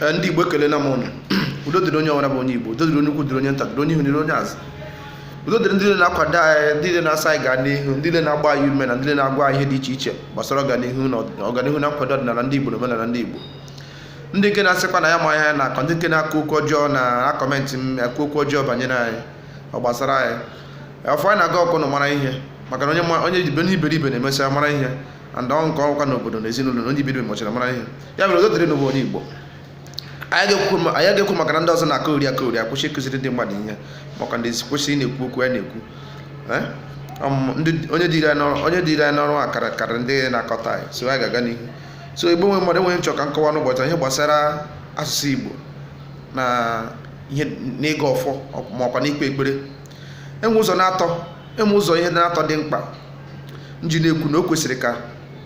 Eh, ndị igbo ekelena m ụnụ udo dịrị onye ọbụla bụ onye igbo udo dịrị onye ukwu dịrị onye nta dịrị onye ihu dịrị onye azụ udo dịrị ndị niile na-akwado anyị ndị niile na-asị anyị gaa n'ihu ndị niile na-agba anyị ume na ndị niile na-agwa anyị ihe dị iche iche gbasara ọganihu na ọd- ọganihu na nkwado ọdịnala ndị igbo na omenala ndị igbo ndị nke na-asịkwa na anyị ama ihe anyị na-akọ ndị nke na-ekwu okwu ọjọọ na-akọmentị ma kwuo okwu ọjọọ banyere anyị ọ gbasara anyị ọfọ anyị na-agọ ọ ka ụnụ mara ihe maka na onye ma- onye ibe- onye iberibe na-emesịa mara ihe and ọ nke ọkwa n'obodo na ezinụlọ na onye iberibe mechara mara ihe ya mere udo dịrị ụnụ bụ onye Igbo anyị agaghị ekwu maka na ndị ọzọ na-akọheri akọheri akwụsị ịkụziri ndị mmadụ ihe maka ndị kwụsị na-ekwu okwu anyị na-ekwu eh? onye dịrị anyị n'ọrụ a karịrị ndị na-akọtọ anyị so anyị ga-aga n'ihu so igbo nwe mmadụ e nwere ihe m chọ ka m kọwaa n'ụbọchị ihe gbasara asụsụ igbo na ihe na ịgọ ọfọ makwa na ikpe ekpere e nwee ụzọ n'atọ e nwee ụzọ ihe n'atọ dị mkpa m ji na-ekwu na o kwesịrị ka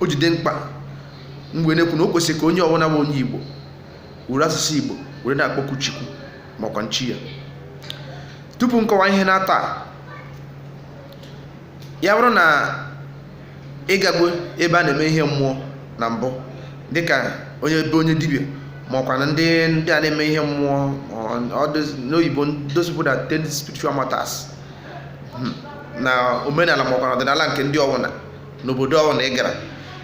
o ji dị mkpa m wee na-ekwu na o kwesịrị ka onye ọbụla bụ onye igbo were asụsụ igbo were na-akpọku chukwu makwa na chi ya tupu m kọwa ihe n'atọ a, ya bụrụ na ị gago ebe a na-eme ihe mmụọ na mbụ dịka onye ebe onye dibịa makwa na ndị ndị a na-eme ihe mmụọ ọ- ọ those- n'oyibo those people that attend spiritual matters hmm, na omenala makwa na ọdịnala nke ndị ọwụna n'obodo ọwụna ị gara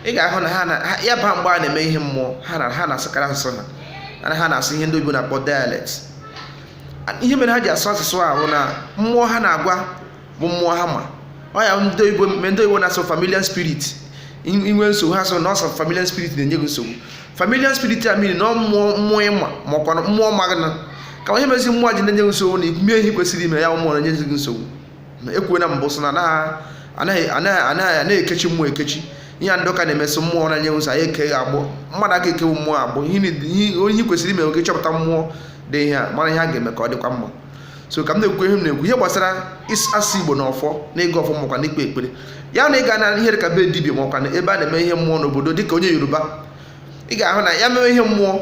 ị ga-ahụ na ha na ya bụ mgbe a na-eme ihe mmụọ ha na ha na-asụkarị asụsụ ha ana ha na-asụ ihe ndị oyibo na-akpọ dialect ihe mere ha ji asụ asụsụ ahụ na mmụọ ha na-agwa bụ mmụọ ha ma ọ ya ndị oyibo mgbe ndị oyibo na-asị familiar spirit i nwee nsogbu ha sị na ọ bụ familiar spirit na-enye gị nsogbu familiar spirit a mmiri na mmụọ mmụọ ị ma makwa mmụọ ma gị na ka ihe mezi mmụọ ji na-enye gị nsogbu na ikwumie ihe kwesịrị ime ya mmụọ na-enye gị nsogbu ekwuo na mbụ sị na anaghị anaghị ekechi mmụọ ekechi ihe a ndị ụka na-eme sị mmụọ na-enye nsogbu anyị ekee gị agbụ mmadụ aka ekewu mmụọ agbụ ihe kwesịrị ime ọ gị chọpụta mmụọ dị ihe a mara ihe a ga-eme ka ọ dịkwa mma so ka m na-ekwu ihe m na-ekwu ihe gbasara asụsụ igbo na ọfọ na ịgọ ọfọ makwa na ikpe ekpere ya na ị gaa na ihe dịka be dibịa makwa na ebe a na-eme ihe mmụọ n'obodo dịka onye yoruba ị ga-ahụ na ya mewe ihe mmụọ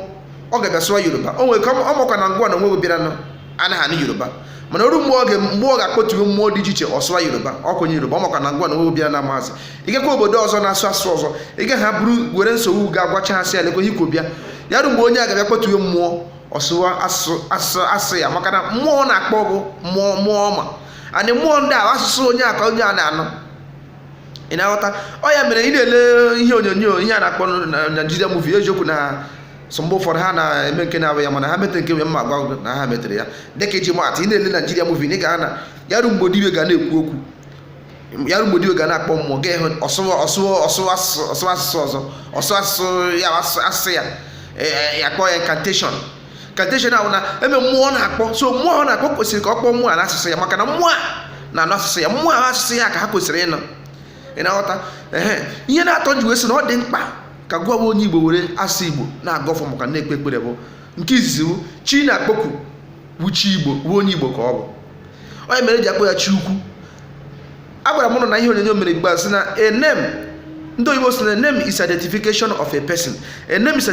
ọ ga-abịa sụwa yoruba o nwere ike ọ makwa na gịnwa na onwe gị bịara nọ anaghị anụ yoruba mana o ruo mgbe oge mgbe ọ ga-akpọtuwe mmụọ dị iche iche ọ sụwa yoruba ọ kwenye yoruba ọ makwa na gịnwa na onwe gị bịara amazị ị gakwaa obodo ọzọ na-asụ asụsụ ọzọ ị gaghị abụrụ were nsogbu gaa gwachaa ha sị ya lekwa ihe i kwọ bịa ya ruo mgbe onye a ga-abịa kpọtuwe mmụọ ọ sụwa asụ- asụsụ ya maka na mmụọ na-akpọ bụ mmụọ mmụọ ọ ma and mmụọ ndị a asụsụ onye a ka onye a na-anụ ị na-aghọta ọ ya mere ị na-ele ihe onyonyo ihe a na-akpọ na Nigeria movie eziokwu na so mgbe ụfọdụ ha na-eme nke na-abụ ya mana ha metere nke nwe mma agwa na ha metere ya dịka iji maatụ ị na-ele Nigeria movie ị ga-ahụ na ya ruo mgbe dibịa ga na-ekwu okwu ya ruo mgbe dibịa ga na-akpọ mmụọ ị ga-ahụ ọ sụwa ọ sụwa ọ sụwa asụsụ ọ sụwa asụsụ ọzọ ọ sụwa asụsụ ya asụsụ ya akpọ ya incantation cantation ahụ ọ na-eme mmụọ ọ na-akpọ so mmụọ ọ na-akpọ kwesịrị ka ọ kpọọ mmụọ a n'asụsụ ya maka na mmụọ a na-anụ asụsụ ya mmụọ ahụ asụsụ ya ka ha kwesịrị ịnụ ị na-aghọta ehe ihe na-atọ m ji wee sị na ọ dị mkpa ka gụwa wụ onye igbo were asụsụ igbo na-agọ ọfọ ma ọkwa na-ekpe ekpere bụ nke izizi bụ chi ị na-akpọku wụ chi igbo wụ onye igbo ka ọ bụ ọ ya mere e ji akpọ ya chi ukwu agwara m ụnụ na ihe onyonyo m mere mgbe a sị na a name ndị oyibo sị na a name is identification of a person a name is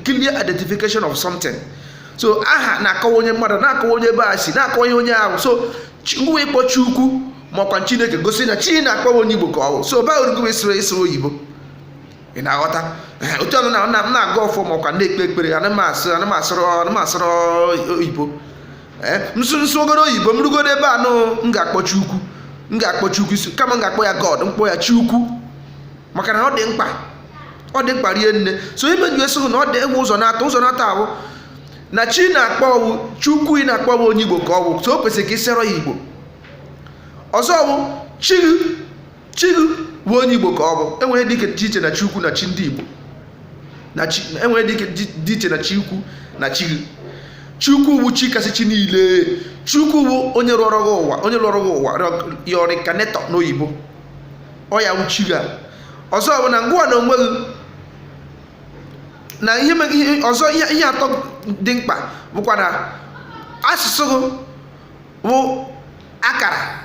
clear identification of something so aha na-akọwa onye mmadụ na-akọwa onye ebe a si na-akọwa ihe onye a wụ so ngụwa ịkpọ chi ukwu ma ọkwa chineke gosi na chi ị na-akpọ wụ onye igbo ka ọ bụ so ọ bụrụgo ị sụrụ ị sụrụ oyibo ị na-aghọta otu ọnụ na m na-agọ ọfọ ma ọkwa na-ekpe ekpere ana m asụ ana m asụrụ ana m asụrụ oyibo m sụgoro oyibo m rugoro ebe anụ m ga-akpọ chi ukwu m ga-akpọ chi ukwu isi kama m ga-akpọ ya god m kpọọ ya chi ukwu maka na ọ dị mkpa ọ dị mkpa rie nne so ihe m ji sị na ọ dị e nwere ụzọ na-atọ ụzọ na-atọ a wụ na chi ị na-akpọ wụ chi ukwu ị na-akpọ wụ onye igbo ka ọ wụ so o kwesịrị ka ị sụọrọ ya igbo ọzọ wụ chi chi gị bụ onye igbo ka ọ bụ e nwere ihe dị iche na chi ukwu na chi ndị igbo na chi e nwere ihe dị iche na chi ukwu na chi gị chi ukwu bụ chi kasị chi niile chi ukwu bụ onye lọọrọ gị ụwa onye lọọrọ gị ụwa your reincarnator n'oyibo ọ ya bụ chi gị a ọzọ bụ na ngụwa na onwe gị na ihe ọzọ ihe atọ dị mkpa bụkwa na asụsụ gị wụ akara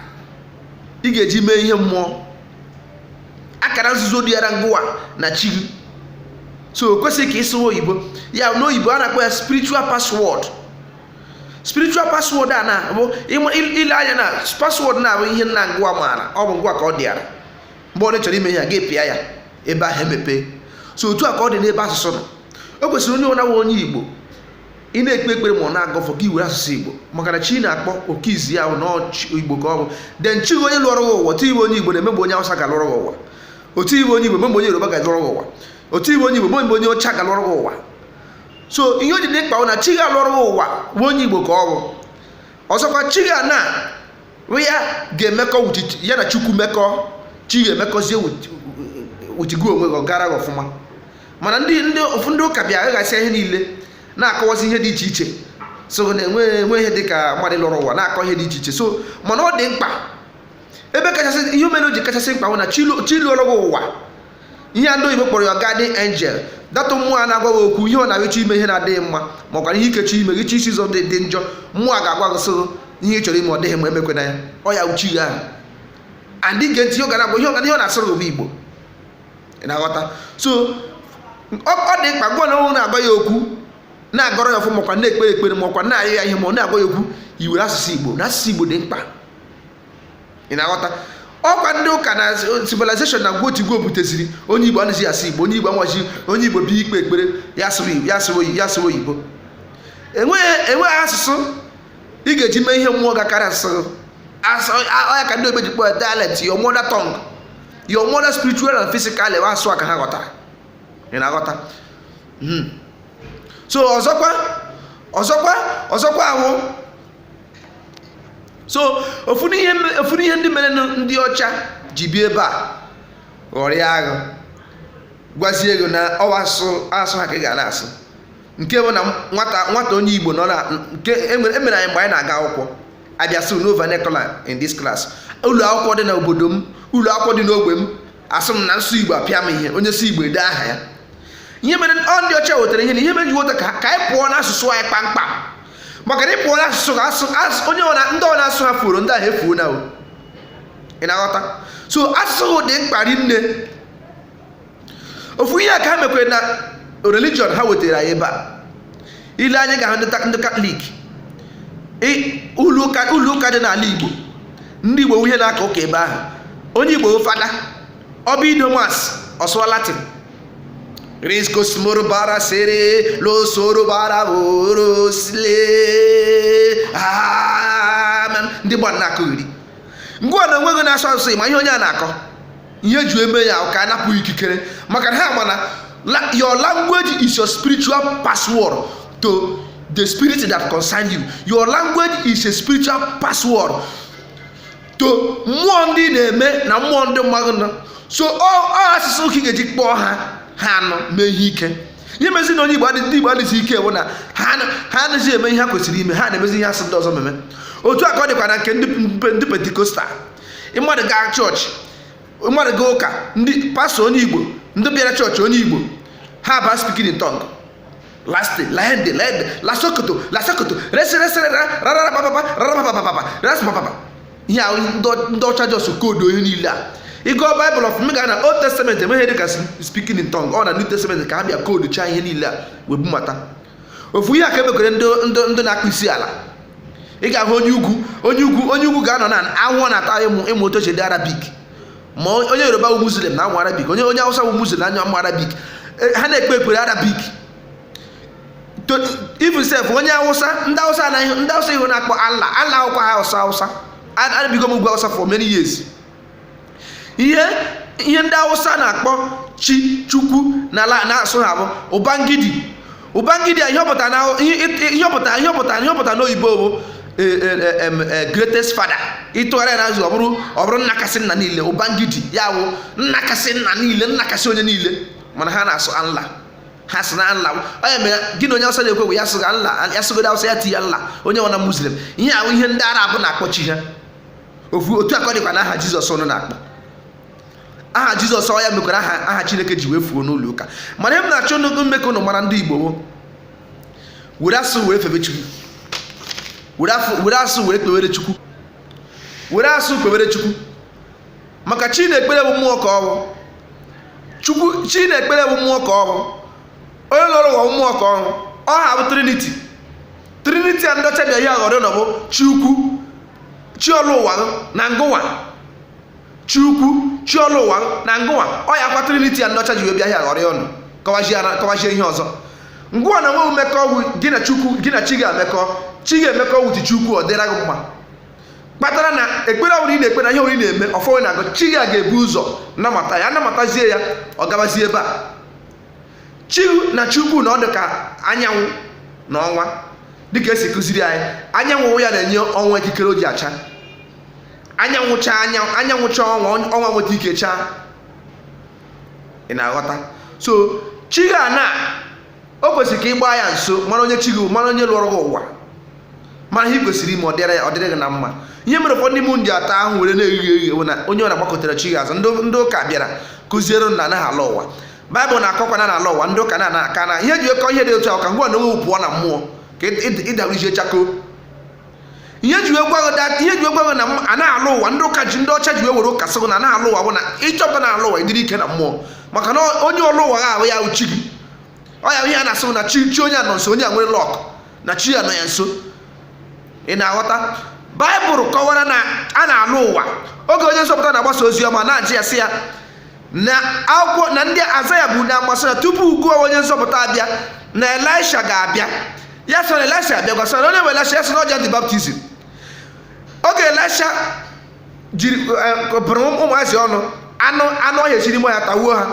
ị ga-eji mee ihe mmụọ akara nzuzo dịara ngụwa na chi gị so o kwesịghị ka ị sụwa oyibo ya n'oyibo a na-akpọ ya spiritual password spiritual password a na-abụ i lee anya na password na-abụ ihe naanị ngụwa maara ọ bụ ngụwa ka ọ dịara mgbe ị chọrọ ime ihe a gị pịa ya ebe ahụ emepee so otu a ka ọ dị n'ebe asụsụ nọ o kwesịrị onye ọbụna onye igbo ị na-ekpe ekpere ma ọ na-agọ ọfọ gị were asụsụ igbo maka na chi ị na-akpọ nke izizi onye igbo ka ọ bụ then chi onye lọọrọ gị ụwa otu ị bụ onye igbo o nweghị mgbe onye awụsa ga-alọrọ gị ụwa otu ị bụ onye igbo o nweghị mgbe onye yoruba ga-alọrọ gị ụwa otu ị bụ onye igbo o nweghị mgbe onye ọcha ga-alọrọ gị ụwa so ihe o ji dị mkpa bụ na chi ga-alọrọ gị ụwa bụ onye igbo ka ọ bụ ọzọkwa chi gị a na ya ga-emekọ with- ya na chukwu mekọ chi gị emekọzie with- with gị onwe gị ọ gaara gị ọfụma mana ndị ndị ofu ndị ụka bịa aghasịa ihe niile na-akọwazi ihe dị iche iche so na enwe enwe ihe dị ka mmadụ lọrọ ụwa na-akọ ihe dị iche iche so mana ọ dị mkpa ebe kachasị ihe mere o ji kachasị mkpa bụ na chi lu- chi lọrọ gị ụwa ihe a ndị oyibo kpọrọ ya guardian angel that mmụọ a na-agwa gị okwu ihe ọ na-abụ ị chọọ ime ihe na-adịghị mma ma ọ gwara ihe ikechi ime gị chi isi ụzọ dị dị njọ mmụọ a ga-agwa gị sị ihe ị chọrọ ime ọ dịghị mma emekwena ya ọ ya wụ chi gị ahụ and ị gee ntị ihe ọ ga na-agwa ihe ọ ga- ihe ọ na-asụrụ gị bụ igbo ị na-aghọta so ọ dị mkpa gwa na na-agwa ya okwu na-agọrọ ya ọfọ makwa na-ekpere ekpere makwa na-ayọ ya ihe ma ị na-agwa ya okwu i were asụsụ igbo na asụsụ igbo dị mkpa ị na-aghọta ọkwa ndị ụka na civilization na gwo tigwo buteziri onye igbo anaghị asụ igbo onye igbo amaghị onye igbo bịa ikpe ekpere ya asụwa oyibo enweghị asụsụ ị ga-eji mee ihe mmụọ ga-akarị asụsụ ọ ya ka ndị oyibo ji kpọ ya dialect your mother tongue your mother spiritual and physical ewe asụ a ka ha ghọtara ị na-aghọta hmm. so ọzọkwa ọzọkwa ọzọkwa ahụ so ofu n'ihe ndị mere ndị ọcha ji bịa ebe a ghọrịa gị gwazie gị na ọ wụ asụ asụ ha ka ị ga na-asụ nke bụ na nwata nwata onye igbo nọ na nke e mere e anyị mgbe anyị na-aga akwụkwọ a bịa sị no vernacular in this class ụlọ akwụkwọ dị na obodo m ụlọ akwụkwọ dị n'ogbe m a sị m na m sụọ igbo apịa m ihe onye sụọ igbo ede aha ya ihe mere ọ ndị ọcha wetara ihe a ihe mere ji weta ka ka anyị pụọ n'asụsụ anyị kpamkpam maka na ị pụọ n'asụsụ ka asụ onye ndị ọbụna asụsụ ha furu ndị ahụ efuona ị na-aghọta so asụsụ dị mkpa rinne ofu ihe a ka ha mekwere na religion ha wetara anyị ebe a i lee anya ị ga-ahụ ndị ta- ndị katọlik ị- ụlọ ụka ụlọ ụka dị n'ala igbo ndị igbo wụ ha na-aka ụka ebe ahụ onye igbo fada ọ bịa ido mass ọ sụwa latin riskosmoro bara sere losoro bara oro sile amen ndị gbara na-akụ iri gịnwa na onwe gị na-asụ asụsụ amaghị ihe onye a na-akọ ihe e ji eme ya ka a napụ ikikere maka na ha ma na your language is your spiritual password to the spirit that concern you your language is a spiritual password to mmụọ ndị na-eme na mmụọ ndị mmadụ nọ so ọ asụsụ ka ị ga-eji kpọọ ha ha anụ mee ihe ike ihe mezi na onye igbo ndị igbo adịghị ike bụ na ha anaghị eme ihe ha kwesịrị ime ha na-emezi ihe a sị ndị ọzọ meme otu a ka ọ dịkwa na nke ndị pentecostal mmadụ gaa chọọchị mmadụ gaa ụka ndị pastọ onye igbo ndị bịara chọọchị onye igbo ha baa speaking in tongue lasti laende laende lasokoto lasokoto reseresere rararabababa rarabababa rasbababa ihe ahụ ndị ọcha jọst koodu ihe niile a ị gụọ baịbụl ọfụma gaa na old testament e nweghị ihe dịka speaking in tongue ọ na new testament ka ha bịa kooduchaa ihe niile a wee bumata ofu ihe a ka e mekwere ndị na-akpọ isi ala ị ga-ahụ onye ugwu onye ugwu onye ugwu ga-anọ na anwụ na-ata ịmụ ịmụ otu e si ede arabik ma onye yoruba wụ muslim na-amụ arabik onye onye awụsa wụ muslim na-amụ arabik e, ha na-ekpe ekpere arabik even sef onye awụsa ndị awụsa anaghị ndị awụsa ihe a na-akpọ allah allah awụkwaha awụsa awụsa ebigo m ugwu awụsa for many years ihe ihe ndị awụsa na-akpọ chi chukwu n'ala n'asụ ha bụ ụbangidi ụbangidi a ihe ọ pụta na ihe ọ pụta ihe ọ pụta ihe ọ pụta n'oyibo bụ e, e, e, greatest father ị tụgharịa ya n'asụ ọ bụrụ ọ bụrụ nna kasị nna niile ụbangidi ya bụ nna kasị nna niile nna kasị onye niile mana ha na-asụ allah ha sị na allah onye mere gị na onye awụsa na-ekwu bụ ya sị gị allah ya sụgodo awụsa ya tinye allah onye nwana muslim ihe a wụ ihe ndị arab na-akpọ chi ha ofu otu a ka ọ dịkwa na aha jizọs ụnụ na-akpọ aha jizọs ọ ya mekwara aha aha chineke ji wee fuo n'ụlọ ụka mana ihe m na-achọ nnukwu ime ka ụnụ mara ndị igbo wo were asụ were febe chukwu were afọ- were asụ were kpewere chukwu were asụ kpewere chukwu maka chi na-ekpere bụ mmụọ ka ọ bụ chukwu chi na-ekpere bụ mmụọ ka ọ bụ onye lọrọ ụwa bụ mmụọ ka ọ bụ ọ ha bụ triniti triniti a ndị ọcha bịa hịaghọrọ ọnụ bụ chi ukwu chi ọlọ ụwa na ngụwa chi ukwu chi ọlọ ụwa na ngụwa ọ yakwa triniti a ndị ọcha ji wee bịa hịaghọrọ ya ọnụ kọwazie ihe ọzọ ngụwa na nwe mmekọ ọgwụ gị na chukwu gị na chi ga-emekọ chi ga-emekọ with chukwu ọ dịra gị mma kpatara na ekpere ọbụla ị na-ekpe na ihe ọbụla ị na-eme ọfọ ị na-agọ chi gị ga-ebu ụzọ namata ya namatazie ya ọ gabazie ebe a chi na chi ukwu na ọ dị ka anyanwụ na ọnwa dịka e si kụziri anyị anyanwụ wụ ya na-enye ọnwa ikikere o ji acha anyanwụ chaa anyanwụ anyanwụ chaa ọnwa ọnwa nweta ike chaa ị na-aghọta so chi gị a na o kwesịrị ka ị gbaa ya nso mara onye chi gị bụ, mara onye lọrọ gị ụwa mara ihe ị kwesịrị ime ọ dịrị ya ọ dịrị gị na mma ihe mere ụfọdụ n'ime ndị ata ahụ were na-eghe eghe bụ na onye ọ na-agbakụtara chi gị azụ ndị ụka bịara kụziere na a naghị alọ ụwa baịbụl na-akọkwanụ na a na-alọ ụwa ndị ụka na-ana aka na ihe e ji akọ ihe dị otu ahụ ka ngwa na onwe pụọ na mmụọ ka ịdabụrụzie chakoo ihe e ji agwa gị ihe e ji agwa gị na a naghị alọ ụwa ndị ụka ji ndị ọcha ji were ụka sị gị na a naghị alọ ụwa bụ na ị chọpụta na a na-alọ ụwa ị dịrị ike na mmụọ maka na onye ọlọ ụwa ahụ ya wụ chi gị ọ ya ihe a na-asị gị na chi chi onye a nọ nso onye a nwere lọk na chi ya nọ ya nso ị na-aghọta baịbụl kọwara na a na-alọ ụwa oge onye nzọpụta na-agbasa ozi ọma na-ajụ ya sị ya na akwụkwọ na ndị azaya bụ na gbasara tupu ugbu a onye nzọpụta abịa na elisha ga-abịa ya sị na elisha abịagwo ha sị ya onye bụ elisha ya sị na ọ John the Baptism oge elisha jiri e, bụrụ ụmụazị ọnụ anụ anụ ọhịa si n'ime ọhịa tawuo ha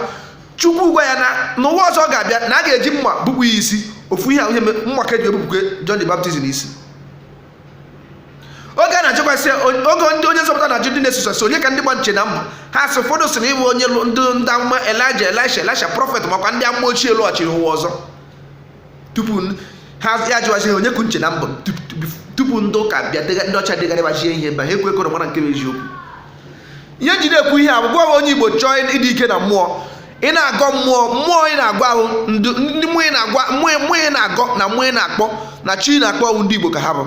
chukwu gwa ya na n'ụwa ọzọ ọ ga-abịa na a ga-eji mma gbupụ ya isi ofu ihe ihe mma ka eji egbupụkwa John the Baptist isi oge a na-ajụkwa sị oge ndị onye nzọpụta na-ajụ ndị na-eso ya sị onye ka ndị mba na-eche na m bụ ha sị ụfọdụ sị na ị bụ onye ndị ndị amụma elija elisha elisha prọfet makwa ndị amụma ochie lọghachiri ụwa ọzọ tupu ha ya jụwazi ha onye ka unu na-eche na m bụ tupu ndị ụka bịa ndị ọcha degharịbazie ihe mba ha ekwekọrọ mara nke bụ eziokwu ihe m ji na-ekwu ihe a bụ gị wụ onye igbo chọọ ịdị ike na mmụọ ị na-agọ mmụọ mmụọ ị na-agọ ahụ ndị mmụọ ị na-agwa mmụọ mmụọ ị na-agọ na mmụọ ị na-akpọ na chi ị na-akpọ ahụ ndị Igbo ka ha bụ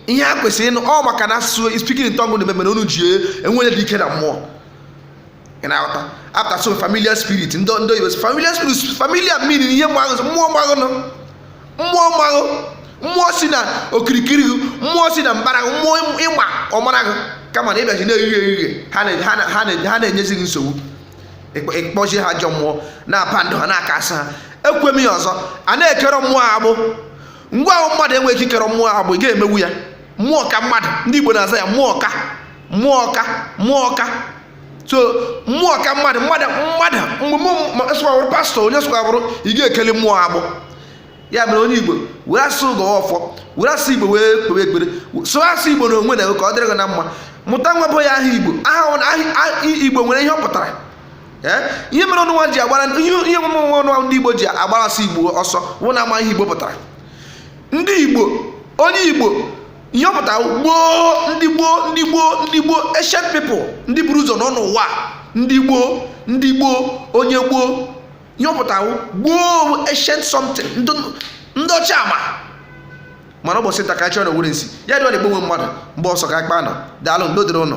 ihe ha kwesịrị ịnụ ọ maka na asụsụ speaking in tongue na-eme mere unu ji enweghị ike na mmụọ ị na-aghọta a pụta sị ọ familiar spirit ndị ndị oyibo familiar spirit familiar meaning ihe mgbaghụ mmụọ mgbaghụ nọ mmụọ mgbaghụ mmụọ si na okirikiri gị mmụọ si na mbara gị mmụọ ị ma ọ mara gị kama na ị bịazi na-ehie ehie ha na-enyezi gị nsogbu ị kpọzie ha ajọ mmụọ na-abind ha na-acast ha ekwue m ya ọzọ a na-ekere mmụọ agbụ ngwa ahụ mmadụ enweghị ike ikere mmụọ agbụ ị ga-emewu ya mmụọ ka mmadụ ndị Igbo na-aza ya mmụọ ka mmụọ ka mmụọ ka so mmụọ ka mmadụ mmadụ mmadụ mgbe sọkwa bụrụ pastọ onye sọkwa bụrụ ị ga-ekeli mmụọ agbụ ya mere onye igbo were asụ gọọ ọfọ were asụ igbo wee kpewe ekpere sụọ asụ igbo na onwe na ka ọ dịrị gị na mma mụta nwa gụọ ya aha igbo aha igbo nwere ihe ọ pụtara ihe mere ụnụnwa ji agbara ihe omume onwe ụnụnwa ndị igbo ji agbara asụ igbo ọsọ wụ na ama ihe igbo pụtara ndị igbo onye igbo ihe ọ pụtara wụ gboo ndị gboo ndị gboo ndị gboo ancient people ndị buru ụzọ nọ n'ụwa ndị gboo ndị gboo onye gboo ihe ọ pụtara wụ gboo ancient something ndị ọcha ama mana ụbọchị nta ka a chụọ n'owere nchi ya dị ọ na igbo nwe mmadụ mgbe ọzọ ka akpa nọ daalụ udo dịrị ụnụ